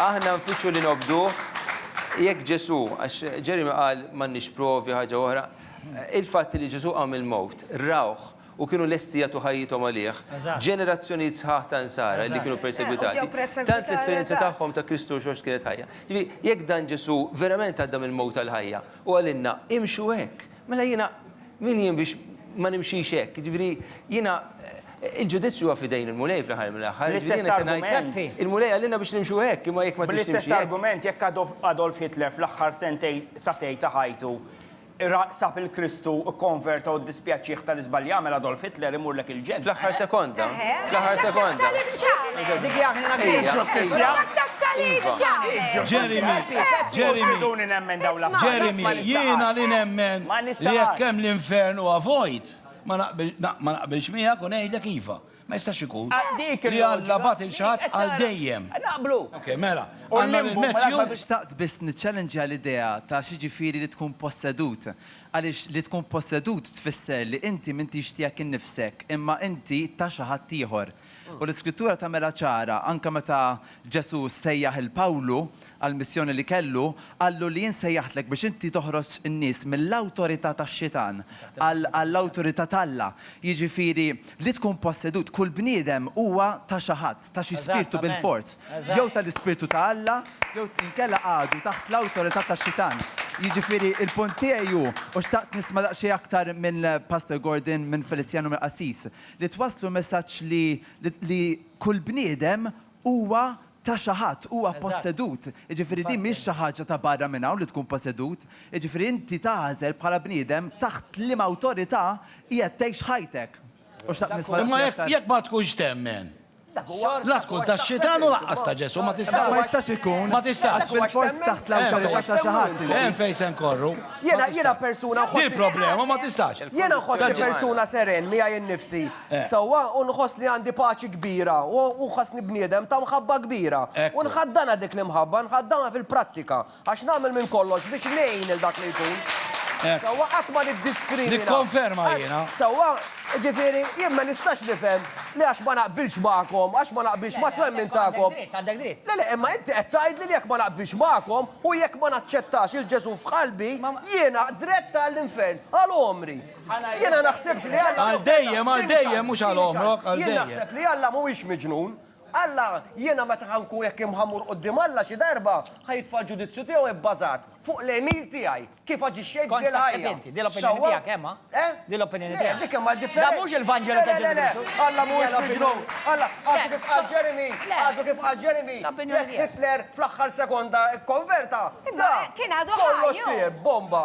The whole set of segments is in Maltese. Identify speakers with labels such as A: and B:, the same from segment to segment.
A: Aħna nfittxu li nobduh, jekk Ġesù, għax Jeremy qal m'għandniex provi, ħaġa oħra, il-fatt li Ġesù qam mill-mewt, rawh u kienu lesti jagħtu ħajjithom għalih, ġenerazzjonijiet sħaħ ta' Nsara li kienu persegwitati, tant l-esperjenza tagħhom ta' Kristu u x-xogħol x'kienet ħajja. Jiġifieri, jekk dan Ġesù verament għadda mill-mewt għall-ħajja, hu qalilna, imxu hekk. Mela jiena min jien biex ma nimxix hekk? Jiġifieri jiena il-ġudizzju huwa f'idejn il-Mulej fl-aħħar mill-aħħar. Bl-istess argument.
B: Il-Mulej qalilna biex
A: nimxu hekk, imma jekk ma tridx timxi hekk. Bl-istess argument, jekk
B: Adolf Hitler fl-aħħar sentejn satej ta' ħajtu ra sab il-Kristu, ikkonverta u ddispjaċih tal-iżballi għamel, Adolf Hitler imurlek il-. Fl-aħħar sekonda.
A: Fl-aħħar sekonda.
B: Dik hija aħna ġustizzja. Jeremy,
C: Jeremy, Jeremy, jiena li nemmen li jekk hemm l-infern huwa vojt, ma naqbilx miegħek u ngħidlek iva. Ma jistax ikun. Ah, li għalla bat il-xat għal dejjem. Naqblu. Ok,
B: mela.
C: Għanna l-Matthew. Xtaqt biss
D: niċċallenġja l-idea ta' xieġifiri li tkun possedut. Għaliex li tkun possedut tfisser li inti m'intix tiegħek innifsek, imma inti ta' xi ħadd ieħor. U l-Iskrittura tagħmilha ċara, anke meta Ġesù sejjaħ 'il Pawlu għall-missjoni li kellu, qallu li jien sejjaħtlek biex inti toħroġ in-nies mill-awtorità tax-xitan għall-awtorità t'Alla. Jiġifieri, li tkun possedut, kull bniedem huwa ta' xi ħadd, ta' xi spirtu bilfors. Jew tal-ispirtu ta' Alla, jew inkella għadu taħt l-awtorità tax-xitan. Jiġifieri, il-punt tiegħi hu, u xtaqt nisma' daqsxejn aktar minn Pastor Gordon, minn Feliciano, mill-qassis, li twasslu messaġġ li li kull bniedem huwa ta' xi ħadd, huwa ppossedut. Jiġifieri din mhix xi ħaġa ta' barra minn hawn li tkun possedut. Jiġifieri inti tagħżel bħala bniedem taħt liema awtorità qiegħed tgħix ħajtek. U xtaqt nisma' daqsxejn aktar. Imma jekk ma tkunx
C: temmen, la tkun tax-xitan u lanqas ta' Ġesù, ma tistax. Dak ma jistax ikun. Ma
D: tistax. Għax bilfors
C: taħt l-awtorità
D: ta' xi ħadd inti. Hemm fejn se nkorru.
C: Jiena persuna
E: nħossni. Din problema, ma
C: tistax. Jiena nħossni persuna
E: seren miegħi nnifsi sewwa u nħoss li għandi paċi kbira u nħossni bniedem ta' mħabba kbira. U nħaddanha dik l-imħabba, nħaddanha fil-prattika, għax nagħmel minn kollox biex ngħin lil dak li jkun, sewwa, qatt ma niddiskrimina. Nikkonferma jiena.
C: Sewwa,
E: jiġifieri, jien ma nistax nifhem li għax ma naqbilx magħkom, għax ma naqbilx mat-twemmin tagħkom. Għandek dritt, għandek dritt. Le le,
B: imma inti qed
E: tgħidli li jekk ma naqbilx magħkom u jekk ma naċċettax 'il Ġesù f'qalbi, jiena drett għall-infern għal għomri. Jiena naħsibx li Alla. Għal dejjem, għal
C: dejjem, mhux għal għomrok, għal dejjem. Jien naħseb li Alla mhuwiex
E: miġnun. Alla, jiena meta ħa nkun hekk imħa mmur quddiem Alla xi darba, ħa jitfa' l-ġudizzju tiegħu ibbażat fuq l-għemil tiegħi, kif aġixxejt f'din il-ħajja. Skont x'taħseb inti, din l-opinjoni tiegħek,
B: eh ma? Eh? Din l-opinjoni tiegħek. Dik imma differenti. Dan mhux
E: il-Vanġelu ta' Ġesù Kristu.
B: Alla mhuwiex miġnun. Alla, għadu
E: kif qal Jeremy, għadu kif qal Jeremy. L-opinjoni tiegħek. Hitler
B: fl-aħħar
E: sekonda kkonverta. Imma kien għadu
F: ħaj. Kollox kien, bomba.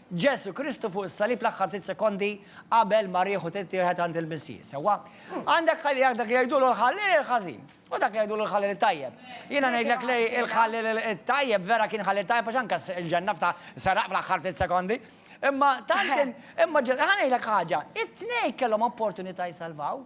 B: Ġesù Kristu fuq is-salib l-aħħar ftit sekondi qabel ma riħu tittieħed għand il-Missieħ, sewwa? Għandek ħallejak dak li jgħidulu l-ħalliel il-ħażin, u dak li jgħidulu l-ħalliel it-tajjeb. Jiena ngħidlek li l-ħalliel it-tajjeb vera kien ħalliel tajjeb għax anke il-ġenna fta seraq fl-aħħar ftit sekondi. Imma tant kien, imma ġe, ħa ngħidlek ħaġa, it-tnejn kellhom opportunità jsalvaw,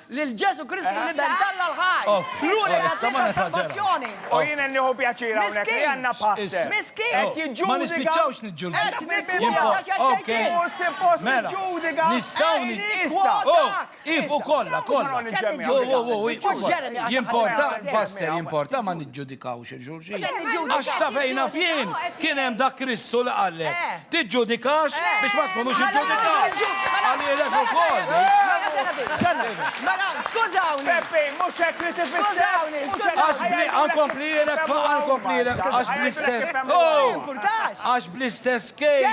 B: Lil Ġesù Kristu li ben t'Alla l-ħaj, l-unika Triq għas-salvazzjoni. U jien qed nieħu
G: pjaċir hawnhekk li għandna pastor qed jiġġudika.
B: Ma nispiċċawx
C: niġġudikaw. Mhux
B: suppost
G: tiġġudika.
C: Issa. Ieqfu kollha, kollha. Jimporta, pastor, jimporta ma niġġudikawx. Għax sa fejn naf jien, kien hemm dak Kristu li qallek, Tiġġudikax biex ma tkunux iġġudikat. Qalilek ukoll.
B: Mela, skużawni. Peppi, mhux hekk
G: li tifisser.
B: Għax bli għankomplilek fa'
C: għankomplilek għax bl-istess. Għax
B: bl-istess
C: kejl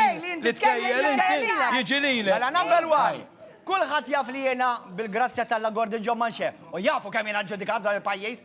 C: li tkejjel
B: inti
C: jiġi lilek. Mela number
B: one, kulħadd jaf li jiena bil-grazzja t'Alla Gordon John Manche u jafu kemm jiena ġġudikat f'dan il-pajjiż.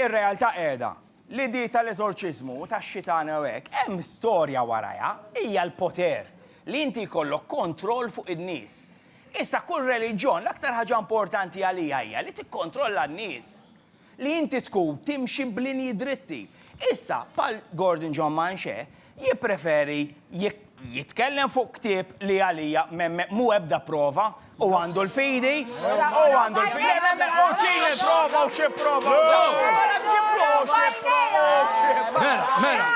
G: Ir-realtà qiegħda li di tal-eżorċiżmu u tax-xitan u hekk hemm storja warajha, hija l-poter, li inti jkollok kontroll fuq in-nies. Issa kull reliġjon l-aktar ħaġa importanti għalija hija li tikkontrolla n-nies, li inti tkun timxi b'linji dritti. Issa bħal Gordon John Manché jippreferi jitkellem fuq ktieb li għalija m'hemm ebda prova u għandu l-fidi, u għandu l-fidi, u ċini l-prova u xi prova.
C: Mela, mela,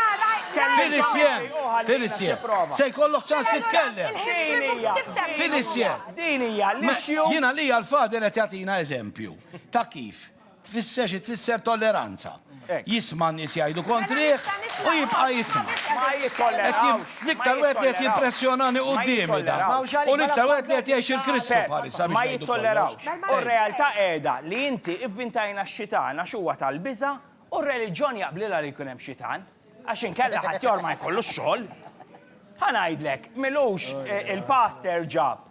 C: Filisien, Filisien, se jkollok ċans titkellem. Filisien, din hija l-issue. Jiena li għal-fader qed jagħtina eżempju ta' kif Tfisser xi tfisser tolleranza. Jisma' n-nies jgħidu kontrih u jibqa' jisma'. Ma jittollerawx. L-iktar wieħed li qed jimpressjonani quddiemi dan. U l-iktar wieħed li qed jgħix il-Kristu bħalissa biex ngħidu kollox.
G: U r-realtà qiegħda li inti ivvintajna x-xitan għax huwa tal-biża' u r-reliġjon jaqblilha li jkun hemm xitan għax inkella ħaddieħor ma jkollux xogħol. Ħa ngħidlek, m'ilux il-pastor ġab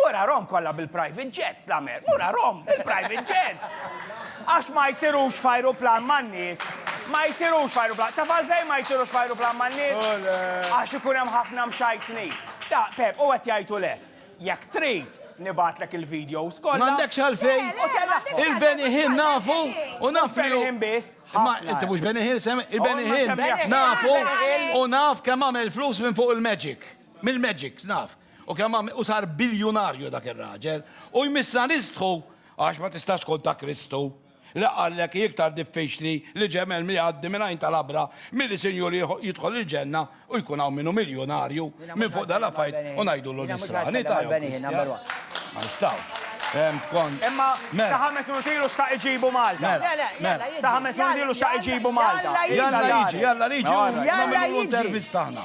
G: Murarhom kollha bil-private jets, l-Amer. Murarhom bil-private jets! Għax ma jtirux f'ajruplan man-nies. Ma jtirux f'ajruplan. Taf għalfejn ma jtirux f'ajruplan man-nies? Għax ikun hemm ħafna mxajtnin. Ta, Pep, u qed jgħid u le. Jekk trid, nibgħatlek il-videos kollha. M'għandekx għalfejn. U
C: tellagħhom. Il-Beni Hill nafu u naf min hu. Mhux Beni Hill biss, ħafna. Imma
G: inti mhux Beni
C: Hill semmi. Il-Beni Hill nafu u naf kemm għamel flus minn fuq il-magic. Mill-magics, naf. U kemm għamel, u sar biljunarju dak ir-raġel, u jmissha nistħu, għax ma tistax tkun ta' Kristu, li qallek hi iktar diffiċli li ġemel jgħaddi minn għajn ta' labra milli sinjur jidħol il-ġenna u jkun hawn min hu miljunarju minn fuq dan l-affarijiet u ngħidulu nisrani ta' jew Kristjan. Ma nistgħux. Fehmt kont.
G: Imma Mela. sa ħames minuti ilu xtaq iġibu Malta. Mela. Le, le, jalla jiġi. Sa ħames minuti ilu xtaq iġibu Malta. Jalla jiġi, jalla
C: jiġi, u nagħmilulu intervista aħna.